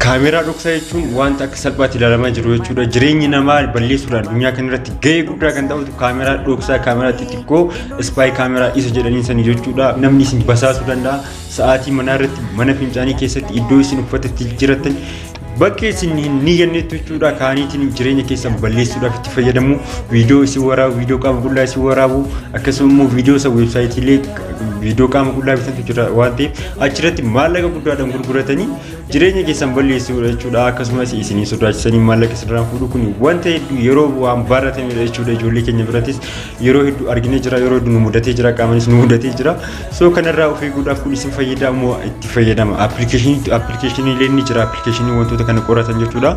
Kaameeraa dhoksaa jechuun wanta akka salphaatti ilaalamaa jiru jechuudha. Jireenyi namaa balleessuudha. Addunyaa kana irratti gahee guddaa kan taphatu kaameeraa dhoksaa, kaameeraa xixiqqoo, ispaay kaameeraa isa jedhanii san jechuudha. Namni isin basaasuu danda'a. Sa'aatii manaa irratti, mana fincaanii keessatti, iddoo isin uffata itti jirattan bakka isin hin niyyannetti jechuudha. Kaaniitiin jireenya keessan balleessuudhaaf itti fayyadamu. Viidiyoo isin waraabu, viidiyoo qaama qullaa isin waraabu, akkasuma immoo viidiyoo isa weebsaayitiilee viidiyoo qaama qullaa bitantu jira waan ta'eef achirratti maallaqa guddaadhaan gurguratanii jireenya keessan balleessuudha jechuudha akkasumas isinii sodaachisanii maallaqa isinirraa fuudhu kun wanta hedduu yeroo waan baratamedha jechuudha ijoollee keenya birattis yeroo hedduu argine jira yeroo hedduu nu mudatee jira qaamanis nu mudatee jira soo kanarraa of eeguudhaaf kun isin fayyadaa moo itti fayyadama appilikeeshiniilee ni jira appilikeeshinii wantoota kana qoratan jechuudha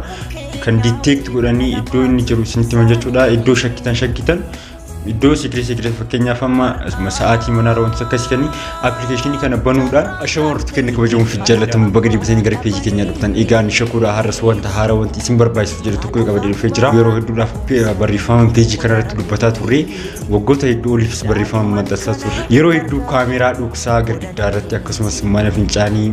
kan diteekti godhanii iddoo inni jiru isinitti himan jechuudha iddoo shakkitan shakkitan Iddoo sikirii sikirii fakkeenyaaf amma sa'aatii manaa irraa wantoota akkasii kenni appilikeeshinii kana banuudhaan ashama warratti kenna kabajamuun fi jaallatamu baga deebisanii gara peejii keenyaa dhuftan egaa ni shakuudha har'as wanta haaraa wanti isin barbaachisuuf jedhu tokko qaba deebifee jira yeroo hedduudhaaf barreeffama peejii kana irratti dubbataa turre waggoota hedduu oliifis barreeffama maxxansaa turre yeroo hedduu kaameeraa dhoksaa girgiddaa irratti akkasumas mana fincaanii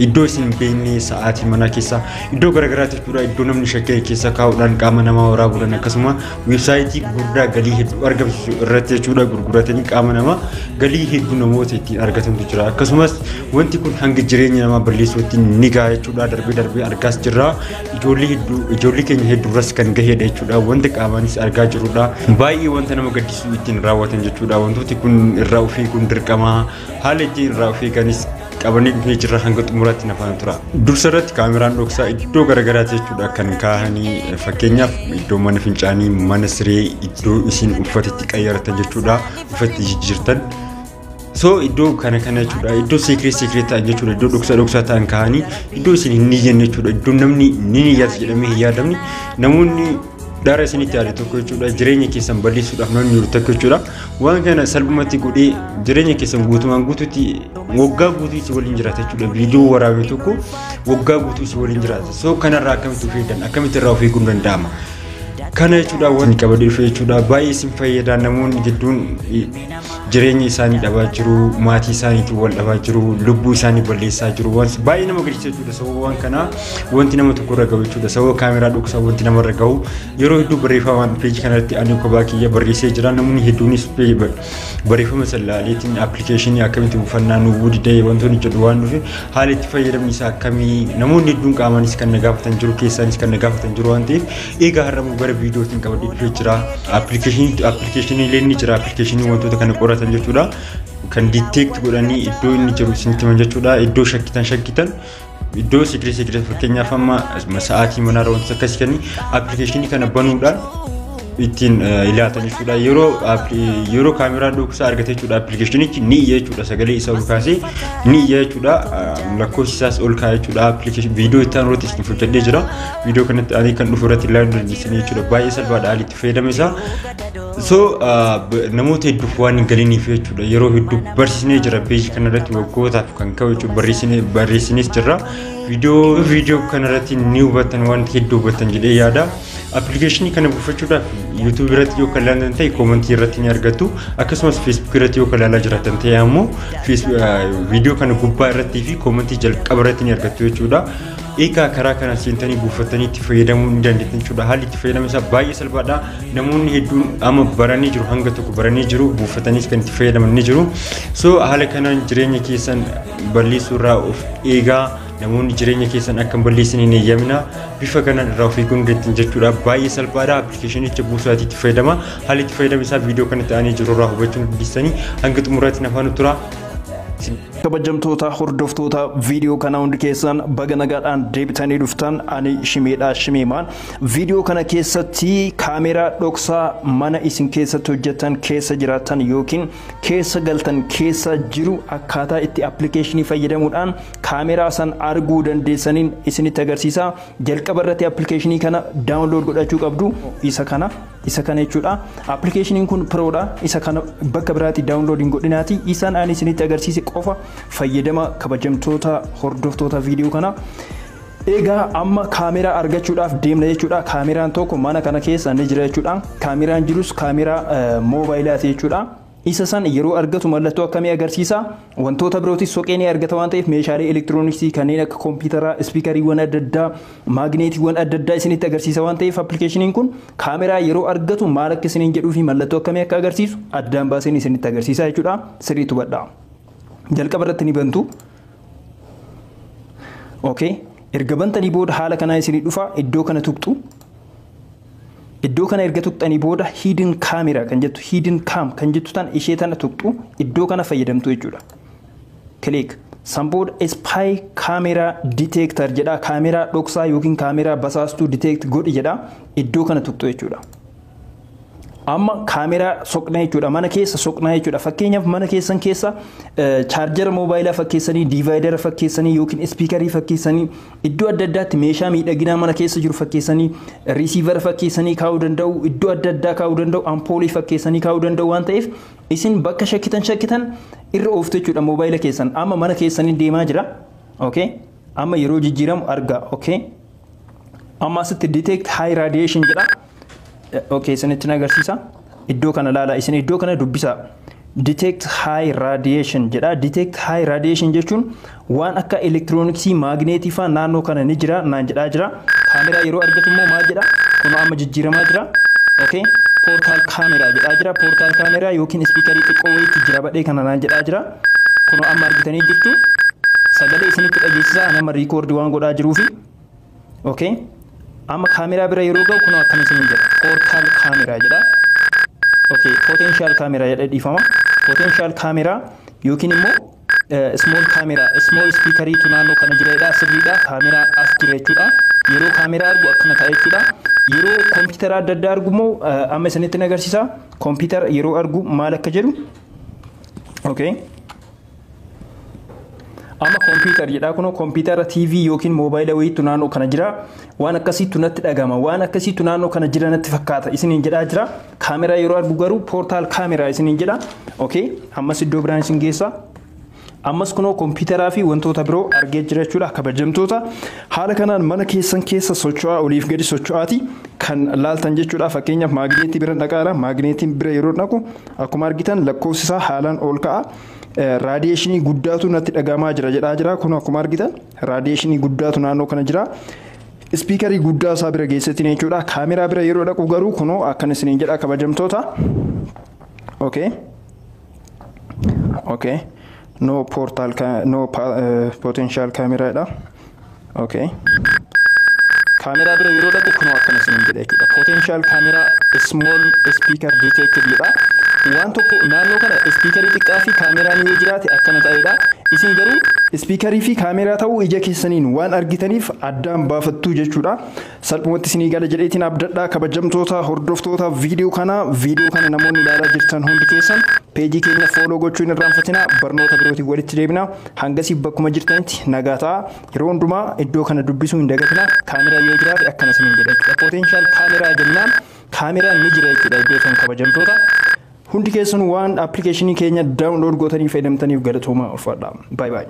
iddoo isin hin beekne sa'aatii manaa keessa iddoo garaagaraatti jechuudha iddoo namni shakkee keessa kaa'uudhaan qaama namaa waraabuudhaan akkasuma Weebsaayitii gurguddaa galii hedduu argamsiisu irratti jechuudha gurguratanii qaama namaa galii hedduu namoota ittiin argatantu jira. Akkasumas wanti kun hanga jireenya namaa balleessuutti ni gaha jechuudha darbee darbee argaas jirra. Ijoollee hedduu ijoollee keenya hedduurras kan gahedha jechuudha wanta qaamaanis argaa jirrudha. Baay'ee wanta nama gaddisiisu ittiin raawwatan jechuudha wantooti kun irraa ofii kun dirqama. Haala ittiin irraa of eeganis qabanii dhufee jirra hanga xumuraatti na faana tura. Dursa irratti kaameraan dhoksaa iddoo garaagaraatti jechuudha kan kaahanii fakkeenyaaf iddoo mana fincaanii, mana siree, iddoo isin uffata itti qayyaratan jechuudha uffatti jijjiirtan. So iddoo kana kana jechuudha iddoo seekireet seekireet ta'an jechuudha iddoo dhoksaa dhoksaa ta'an kaahanii iddoo isin hin niyyanne jechuudha iddoo namni ni niyyata jedhamee hin yaadamne namoonni Dhara isinitti yaade tokko jechuudha. Jireenya keessan balleessuudhaaf namni jiru tokko jechuudha. Waan kana salphumatti godhee jireenya keessan guutumaan guutuutti waggaa guutuu si waliin jiraata jechuudha. Viidiyoo waraabee tokko waggaa guutuu si waliin jiraata. So kanarraa akkamitti of eegdan akkamitti irraa of eeguun danda'ama. Kana jechuudha waan qabadee dhufe jechuudha. Baay'ee isin fayyada namoonni gidduun jireenya isaanii dhabaa jiru maatii isaaniitiin wal dhabaa jiru lubbuu isaanii balleessaa jiru waan baay'ee nama gaddisiisa jechuudha sababa waan kanaa wanti nama tokko irra gahu jechuudha sababa kaameraa dhoksaa wanti nama irra gahu yeroo hedduu barreeffamaan peejii kanarratti ani kophaa kiyya barreessee jira namoonni hedduunis barreeffama san laaleetiin appilikeeshinii akkamitti buufannaa nu gudidee wantoonni jedhu waan dhufe haala itti fayyadamni isaa akkamii namoonni hedduun qaamaanis kan na gaafatan jiru keessaanis kan na gaafatan jiru waan ta'eef Egaa har'ammoo gara viidiyootiin qabadhee dhufee jira. Appilikeeshinii appilikeeshinii illee ni jira. Appilikeeshinii wantoota kana qoratan jechuudha. Kan detect godhanii iddoo inni jiru isinitti himan jechuudha. Iddoo shakkitan shakkitan iddoo sikirii sikirii fakkeenyaaf amma sa'aatii manaarra wantoota akkasii kanii appilikeeshinii kana banuudhaan ittiin ilaaltan jechuudha. Yeroo yeroo kaameraan dhoksaa argate jechuudha appilikeeshinichi ni iyya jechuudha sagalee isaa ol kaasee ni iyya jechuudha lakkoofsi isaas ol kaa'e jechuudha appilikeeshinii viidiyoo itti aanuutti isin hojjedhee jira. viidiyoo kanatti alii kan dhufu irratti ilaaluu dandeessanii jechuudha. Baay'ee salphaadha alii itti fayyadama isaa. So namoota hedduuf waan hin galiniif jechuudha. Yeroo hedduu barsiisnee jira peejii kana irratti waggootaaf kan ka'u jechuudha barreessinees jirra. Viidiyoo viidiyoo kana irratti ni hubattan waan hedduu hubattan jedhee yaada. Appilikeeshinii kana buufachuudhaaf YouTube irratti yoo kan ilaalan ta'e koomantii irratti ni argattu. Akkasumas Facebook irratti yoo kan ilaalaa jiraatan ta'e ammoo viidiyoo kana gubbaa irratti fi koomantii jalqaba irratti ni argattu jechuudha. Egaa karaa kana seentanii buufattanii itti fayyadamuu ni dandeettan jechuudha. Haalli itti fayyadama isaa baay'ee salphaadha. Namoonni hedduun amma baranii jiru hanga tokko baranii jiru buufataniis kan itti fayyadaman ni jiru. So haala kanaan jireenya keessan balleessuu irraa of eegaa namoonni jireenya keessan akka hin balleessine hin eeyyamina. Bifa kanaan irraa of eeguu ni dandeettan jechuudha. Baay'ee salphaadha. Appilikeeshinicha buusaati itti fayyadama. Haalli itti fayyadama isaa viidiyoo kanatti aanee jiru irraa hubachuu ni dandeessanii hanga xumuraatti nafaan tura. Kabajamtoota hordoftoota viidiyoo kanaa hundi keessan baga nagaadhaan deebitanii dhuftan ani shimeedhaa shimeemaan viidiyoo kana keessatti kaameeraa dhoksaa mana isin keessatti hojjetan keessa jiraatan yookiin keessa galtan keessa jiru akkaataa itti appilikeeshinii fayyadamuudhaan kaameeraa san arguu dandeessaniin isinitti agarsiisa jalqaba irratti appilikeeshinii kana daawunlood godhachuu qabdu isa kana Isa kana jechuudha. Appilikeeshiniin kun Pro dha. Isa kana bakka biraatti daawunlood hin godhinaati. Isaan ani isinitti agarsiise qofa fayyadama kabajamtoota hordoftoota viidiyoo kana. Egaa amma kaameraa argachuudhaaf deemna jechuudha. Kaameraan tokko mana kana keessa ni jira jechuudha. Kaameraan jirus kaameraa moobayilaati jechuudha. Isa san yeroo argatu mallattoo akkamii agarsiisa? Wantoota birootis soqee ni argata waan ta'eef meeshaalee elektirooniksii kanneen akka kompiitaraa, ispiikariiwwan adda addaa, maagneetiiwwan adda addaa isinitti agarsiisa waan ta'eef appilikeeshiniin kun kaameraa yeroo argatu maal akka isiniin jedhuu fi mallattoo akkamii akka agarsiisu addaan baaseen isinitti agarsiisa jechuudha. Sirriitti hubadhaa. Jalqaba irratti ni bantu. Okay. Erga bantanii booda haala kanaan isinii dhufa iddoo kana tuqxu. Iddoo kana erga tuqxanii booda hidden camera kan jettu hidden cam kan jettu tan ishee tana tuqxu iddoo kana fayyadamtu jechuudha. Click. San booda spy camera detector jedha kaameraa dhoksaa yookiin kaameraa basaastuu detect godhi jedha iddoo kana tuqxu jechuudha. amma kaameraa soqna jechuudha mana keessa soqna jechuudha fakkeenyaaf mana keessan keessa chaarjara moobaayilaa fakkeessanii diivaayidara fakkeessanii yookiin ispiikarii fakkeessanii Iddoo adda addaatti meeshaa miidhaginaa mana keessa jiru fakkeessanii riisiivara fakkeessanii kaa'uu danda'u, iddoo adda addaa kaa'uu danda'u, ampoolii fakkeessanii kaa'uu danda'u waan ta'eef isin bakka shakkitan shakkitan irra ooftu jechuudha moobaayila keessan. Amma mana keessaniin deemaa jira. Okay? Amma yeroo jijjiiramu argaa. Okay? Amma asitti detect high radiation jedha. Okay, isinitti agarsiisa. Iddoo kana ilaalaa, isin iddoo kana dubbisaa. Detect high radiation jedha. Detect high radiation jechuun waan akka elektirooniksii, maagneetii faa naannoo kana ni jira naan jedhaa jira. Kaameraa yeroo argatu immoo maal jedha? Kun amma jijjiiramaa jira. Okay. Portal camera jedhaa jira. Portal camera yookiin ispiikarii xiqqoo wayiitti jira badhee kana naan jedhaa jira. Kun amma argitanii jirtu. Sagalee isinitti dhageessisaa ani amma riikoordi waan godhaa jiruufi. Okay. Amma kaameraa bira yeroo ga'u kunoo akkana isin jedha. Foorkaal kaameraa jedha. Okay. Potential kaameraa jedha dhiifama. Potential kaameraa yookiin immoo small camera small speaker tu naannoo kana jira jedha sirriidha kaameraa as jira jechuudha yeroo kaameraa argu akkana ta'a jechuudha yeroo kompiitara adda addaa argu immoo amma isinitti agarsiisa kompiitara yeroo argu maal akka jedhu okay Amma kompiitar jedhaa kunoo kompiitara TV yookiin moobaayila wayiitu naannoo kana jira. Waan akkasiitu natti dhagama. Waan akkasiitu naannoo kana jira natti fakkaata. Isiniin jedhaa jira. Kaameraa yeroo argu garuu poortaal kaameraa isiniin jedha. Okay. Ammas iddoo biraan isin geessa. Ammas kunoo kompiitaraa fi wantoota biroo argee jira jechuudha kabajamtoota. Haala kanaan mana keessan keessa socho'aa oliif gadi socho'aati kan laaltan jechuudha. Fakkeenyaaf maagneetii bira dhaqaadha. Maagneetiin bira yeroo dhaqu akkuma argitan lakkoofsi isaa haalaan ol ka'a. raadiyeeshinii guddaatu natti dhagahamaa jira jedhaa jira. Kun akkuma argitan raadiyeeshinii guddaatu naannoo kana jira. Ispiikarii guddaa isaa bira geessetiin jechuudha. Kaameraa bira yeroo dhaqu garuu kunoo akkan isiniin jedha kabajamtoota. Okay. Okay. No portal, no potential camera dha. okay kaameraa bira yeroo dhaqu kunoo akkana isin jedha jechuudha potential camera small speaker detected jedha waan tokko naannoo kana ispiikarii xiqqaa fi kaameraan yoo jiraate akkana ta'edha isin garuu ispiikarii fi kaameraa ta'uu ija keessaniin waan argitaniif addaan baafattuu jechuudha Salphumatti isinii gala jedheetiin abdadha kabajamtoota hordoftoota viidiyoo kana viidiyoo kana namoonni ilaalaa jirtan hundi keessan peejii keenya fooloo gochuu hin irraanfatina barnoota birootiin walitti deebina hangasii bakkuma jirtanitti nagaa ta'a yeroo hundumaa iddoo kana dubbisuu hin dagatina kaameraa yoo jiraate akkana isiniin jedha jechuudha potential kaameraa jennaan kaameraan ni jira jechuudha iddoo kan kabajamtoota hundi keessan waan appilikeeshinii keenya daawunlood gootanii fayyadamtaniif galatoomaa ulfaadha baay baay.